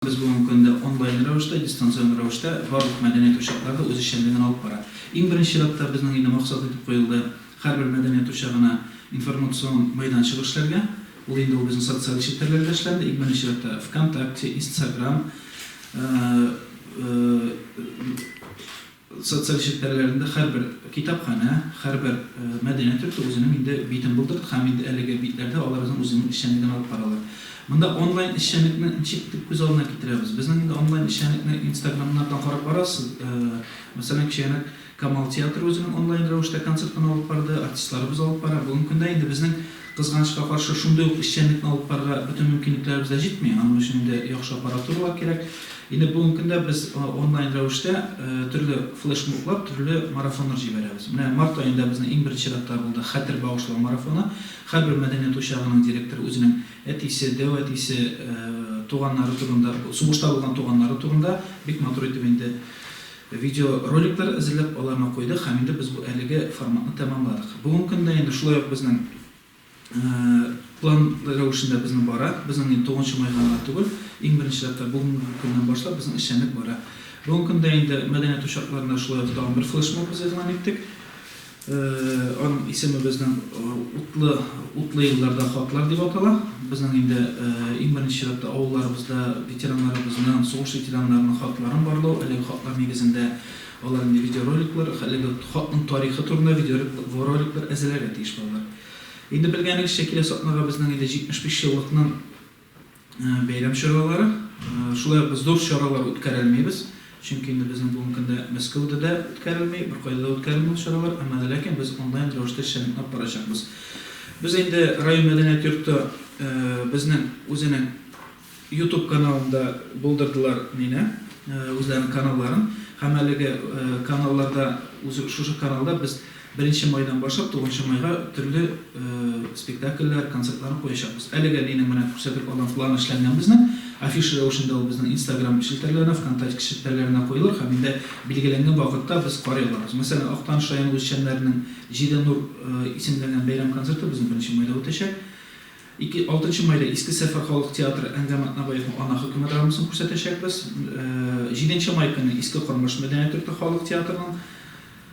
Без бүгенге көндә онлайн рәвештә, дистанцион рәвештә барлык мәдәният учаклары үз эшчәнлеген алып бара. Иң беренче чиратта безнең инде максат итеп куелды, һәрбер мәдәният учагына информацион мәйданчык эшләргә. Ул инде ул безнең социаль челтәрләрдә эшләнде, иң беренче чиратта ВКонтакте, Инстсаграм. Социаль челтәрләрендә һәрбер китапханә, һәрбер мәдәният йорты үзенең инде битен булдырды һәм инде әлеге битләрдә алар безнең үзенең эшчәнлеген алып баралар. Монда онлайн эшчәнлекне ничек итеп күз алдына китерәбез? Безнең инде онлайн эшчәнлекне инстаграмнардан карап барасыз. Мәсәлән, кечегенәк Камал театры үзенең онлайн рәвештә концертын алып барды, артистларыбыз алып бара. Бүгенге көндә инде безнең, кызганычка каршы, шундый ук эшчәнлекне алып барырга бөтен мөмкинлекләребез дә җитми. Аның өчен инде яхшы аппаратуралар кирәк. Инде бүгенге көндә без онлайн рәвештә төрле флешмоблар, төрле марафоннар җибәрәбез. Менә март аенда безнең иң беренче чиратта булды Хәтер багышлау марафоны. Һәрбер мәдәният учагының директоры үзенең әтисе, дәү әтисе, туганнары турында, сугышта булган туганнары турында бик матур итеп инде видеороликлар әзерләп, аларны куйдык һәм инде без бу әлеге форматны тәмамладык. Бүгенге көндә инде шулай ук безнең План рәвешендә безнең бара. Безнең инде 9 нчы майга гына түгел, иң беренче чиратта бүгенге көннән башлап безнең эшчәнлек бара. Бүгенге көндә инде мәдәният учакларында шулай ук тагын бер флешмоб без игълан иттек. Аның исеме безнең утлы утлы елларда хатлар дип атала. Безнең инде иң беренче чиратта авылларыбызда ветераннарыбызның, сугыш ветераннарының хатларын барлау, әлеге хатлар нигезендә Алар инде видеороликлар, хәлеге хатның тарихы турында видеороликлар әзерләргә тиеш балалар. Инде белгәнегезчә, киләсе атнага безнең инде 75 еллыкның бәйрәм чаралары. Шулай ук без зур чаралар үткәрәлмибез, чөнки инде безнең бүгенге көндә Мәскәүдә дә үткәрелми, беркайда да үткәрелми ул чаралар, әмма дә ләкин без онлайн рәвештә чыныгып барачакбыз. Без инде район мәдәният йорты безнең үзенең Ютуб каналында булдырдылар мине, үзләренең каналларын һәм әлеге каналларда, үзе шушы каналда без беренче майдан башлап тугызынчы майга төрле спектакльләр, концертларны куячакбыз. Әлегә минем менә күрсәтеп алган план эшләнгән безнең, афиша рәвешендә ул безнең инстаграм челтәрләренә, вконтачке челтәрләренә куелыр һәм инде билгеләнгән вакытта без карый алырбыз. Мәсәлән, Актаныш районы үзешчәннәренең Җиде нур исемләнгән бәйрәм концерты безнең беренче майда үтәчәк. Ике, алтынчы майда Иске Сәфәр халык театры Әнгам Атнабаевның Ана хөкеме драмасын күрсәтәчәкбез. Җиденче май көнне Иске Кормыш мәдәният йорты халык театрының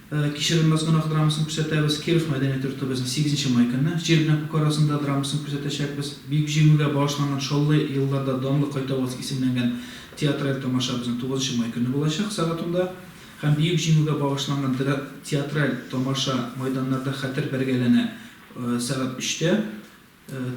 Кичерелмәс гөнаһ драмасын күрсәтәбез. Киров мәдәният йортыбызның сигезенче май көнне Җир белән күк арасында драмасын күрсәтәчәкбез. Бөек Җиңүгә багышланган Чаллы елларда данлы кайтабыз исемләнгән театраль тамаша безнең тугызынчы май көнне булачак, сәгать унда. Һәм Бөек Җиңүгә багышланган театраль тамаша Майданнарда хәтер бәргәләнә сәгать өчтә,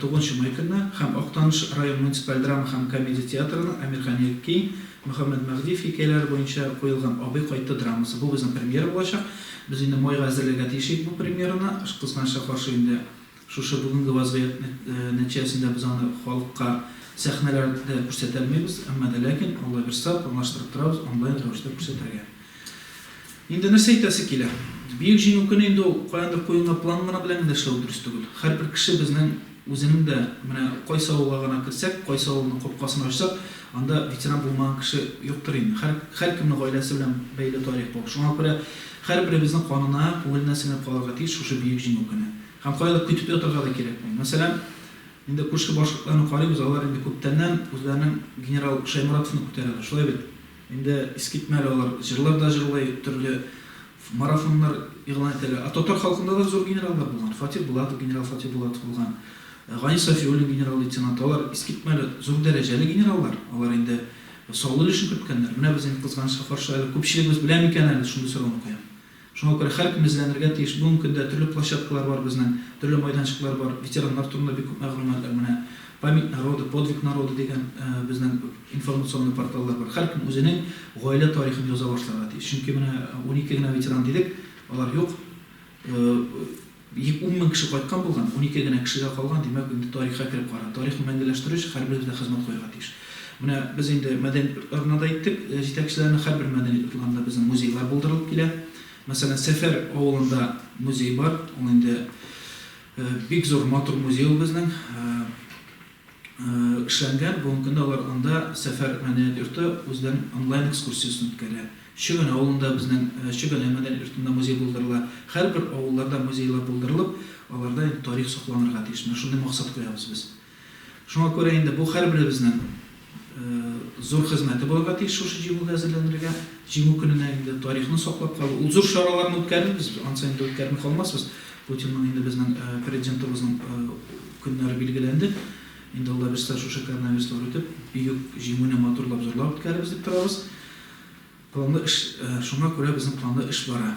тугызынчы май көнне, һәм Актаныш район муниципаль драма һәм комедия театрының Әмирхан Йәкки, Мөхәммәт Мәһдиев хикәяләре буенча куелган Абый кайтты драмасы. Бу безнең премьера булачак. Без инде майга әзерләргә тиеш идек бу премьераны. Кызганычка каршы, инде шушы бүгенге вазгыять нәтиҗәсендә без аны халыкка сәхнәләрдә күрсәтә алмыйбыз. Әмма дә ләкин, Алла бирса, планлаштырып торабыз онлайн рәвештә күрсәтергә. Инде нәрсә әйтәсе килә? Бөек Җиңү көне инде ул каяндыр куенга план гына белән генә эшләү дөрес түгел. Һәрбер кеше безнең үзенең дә, менә кайсы авылга гына керсәк, кайсы авылның капкасын ачсак, анда ветеран булмаган кеше юктыр инде. Һәр, һәркемнең гаиләсе белән бәйле тарих бу. Шуңа күрә һәрберебезнең канына, күңеленә сеңеп калырга тиеш шушы Бөек Җиңү көне. Һәм каядыр көтеп ятарга да кирәкми. Мәсәлән, инде күрше башкортларны карыйбыз, алар инде күптәннән үзләренең генерал Шәйморатовны күтәрәләр, шулай бит? Инде искитмәле алар җырлар да җырлый, төрле марафоннар игълан итәләр. Ә татар халкында да зур генераллар булган. Фатих Булатов, генерал Фатих Булатов булган. Гани Сафиуллин, генерал-лейтенант. Алар искитмәле, зур дәрәҗәле генераллар. Алар инде саллы өлешен керткәннәр. Менә без инде, кызганычка каршы, әле күпчелегебез белә микән әле, шундый сорауны куям. Шуңа күрә һәркем эзләнергә тиеш. Бүгенге көндә төрле площадкалар бар безнең, төрле майданчыклар бар. Ветераннар турында бик күп мәгълүматлар, менә Память народа, Подвиг народа дигән безнең информационный порталлар бар. Һәркем үзенең гаилә тарихын яза башларга тиеш. Чөнки менә унике генә ветеран дидек, алар юк. Бик ун мең кеше кайткан булган, унике генә кешегә калган, димәк, инде тарихка кереп кара. Тарихны мәңгеләштерү өчен һәрберебез дә хезмәт куярга тиеш. Менә без инде мәдәният йортларына да әйттек, җитәкчеләренә, һәрбер мәдәният йортларында безнең музейлар булдырылып килә. Мәсәлән, Сәфәр авылында музей бар, ул инде бик зур, матур музей ул безнең. Эшләнгән, бүгенге көндә алар анда Сәфәр мәдәният йорты үзләренең онлайн экскурсиясен үткәрә. Чөгән авылында безнең Чөгәнә мәдәният йортында музей булдырыла. Һәрбер авылларда музейлар булдырылып, аларда инде тарих сакланырга тиеш. Менә шундый максат куябыз без. Шуңа күрә инде бу һәрберебезнең зур хезмәте булырга тиеш шушы җиңүгә әзерләнергә. Җиңү көненә инде тарихны саклап калу, ул зур чараларны үткәрербез, ансын инде үткәрми калмасбыз. Путинның инде безнең Президентыбызның көннәре билгеләнде. Инде алда без дә шушы коронавируслар үтеп, бөек Җиңүне матурлап җырлап үткәрербез дип торабыз. Планлы эш, шуңа күрә безнең планлы эш бара.